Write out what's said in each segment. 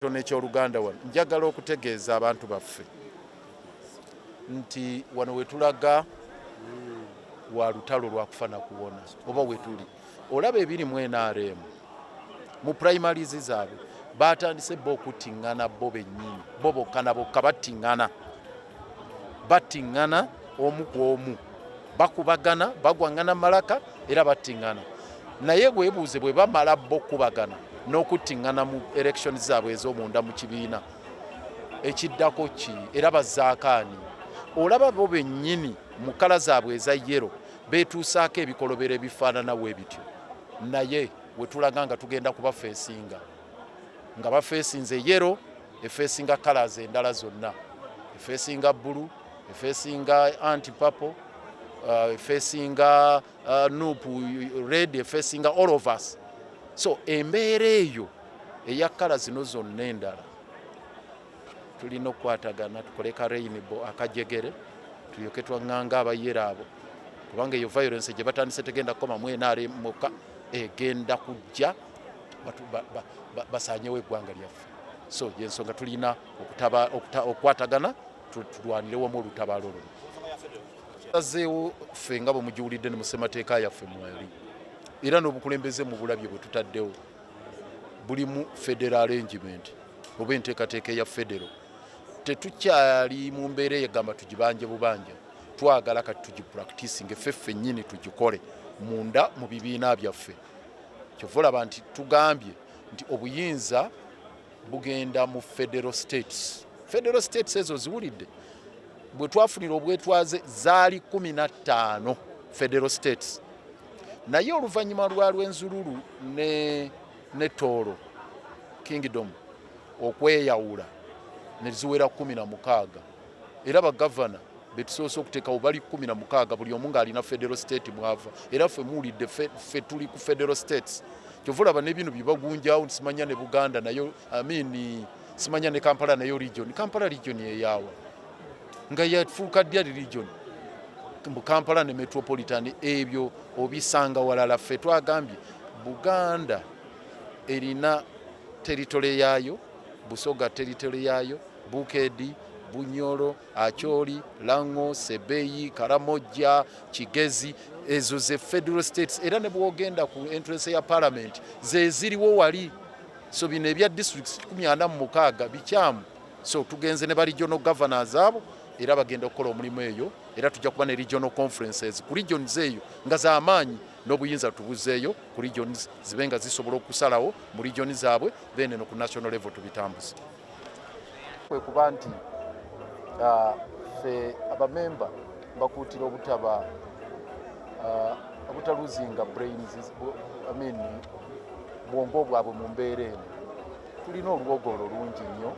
ekitono eky'oluganda wano njagala okutegeeza abantu baffe nti wano wetulaga wa lutalo lwakufa nakuwona oba wetuli olaba ebiri mu nrm mu primaries zaabwe batandise bo okuttiŋŋana bo bennyini bo bokka na bokka battiŋŋana battiŋŋana omu ku omu bakubagana bagwaŋŋana malaka era battiŋŋana naye webuuze bwe bamala bo okukubagana n'okuttiŋŋana mu election zaabwe ez'omunda mu kibiina ekiddako ki era bazaakaani olaba bo bennyini mu kala zaabwe eza yero beetuusaako ebikolobero ebifaanana we bityo naye wetulaga nga tugenda kubafeesinga nga bafeesinze yero efeesinga colors endala zonna efeesinga bbulu efeesinga anti papo uh, efeesinga uh, nup red efeesinga all of us so embeera eyo eya kala zino zonna endala tulina okukwatagana tukole ka rainbo akajegere tulyoke twaŋŋanga abayere abo kubanga eyo violence gye batandise tegenda kukoma mu nrm mukka egenda kujja basanyewo eggwanga lyaffe so yensonga tulina okukwatagana tulwanire wamu olutabaalo luno azeewo ffe nga bwemugiwulidde ne mu ssemateeka yaffe mwali era n'obukulembeze mu bulabye bwe tutaddewo bulimu federal arrangement oba enteekateeka eya federo tetukyali mu mbeera eyegamba tugibanje bubanja twagala kati tugipractisinge ffe ffennyini tugikole munda mu bibiina byaffe kyova olaba nti tugambye nti obuyinza bugenda mu federal states federal states ezo ziwulidde bwe twafunira obwetwaze zaali kumi na ttaano federal states naye oluvannyuma lwa lwenzululu ne, ne tooro kingdom okweyawula ne ziwera kumi na mukaaga era bagavana betusoose okuteekawo bali kumi na mukaaga buli omu ng'alina federal state mwava era ffe muwulidde ffe tuli ku federal states kyova olaba nebino byebagunjawo simanya ne buganda nayo amin simanya ne kampala nayo region kampala region eyaawa nga yafuuka dya region mu kampala ne metropolitan ebyo obisanga walala ffe twagambye buganda erina teritole yaayo Busoga teritole yaayo, Bukedi, Bunyoro, Acholi, Lango, Sebeyi, Karamojja, Kigezi ezo ze federal states era ne bwogenda ku entrance ya parliament zeziriwo wali so bino ebya districts 46 bikyamu so tugenze ne regional governors abo era bagenda okukola omulimu eyo era tujja kuba ne regional conferences ku regions eyo nga zamaanyi n'obuyinza tubuzeeyo ku regions zibe nga zisobola okusalawo mu region zaabwe then eno ku national level tubitambuze kwe kuba nti uh, ffe abamemba bakuutira obutaba uh, obutaluzinga brains I mean bwongo bwabwe mu mbeera eno tulina oluwogolo lungi nnyo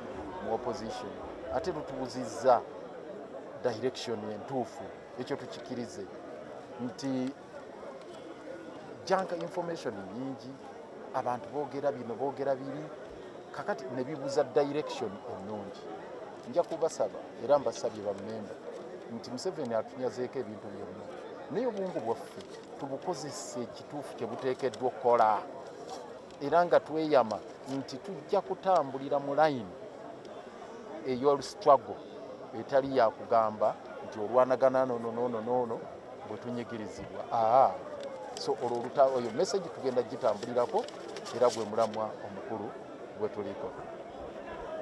mu opposition ate lutubuzizza direction entuufu ekyo tukikirize nti junk information nyingi abantu bogera bino bogera biri kakati nebibuza direction ennungi nja kubasaba era mbasabye bamemba nti museveni atunyazeeko ebintu byonna naye obwongo bwaffe tubukozese ekituufu kyebuteekeddwa okukola era nga tweyama nti tujja kutambulira mu layini ey'olusitwago etali yakugamba nti olwanagana nono nono nono bwetunyigirizibwa aa so olwo oluta oyo message tugenda gitambulirako era gwe mulamwa omukulu gwe tuliko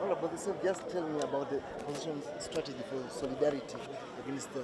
All about the same, just tell me about the position strategy for solidarity against the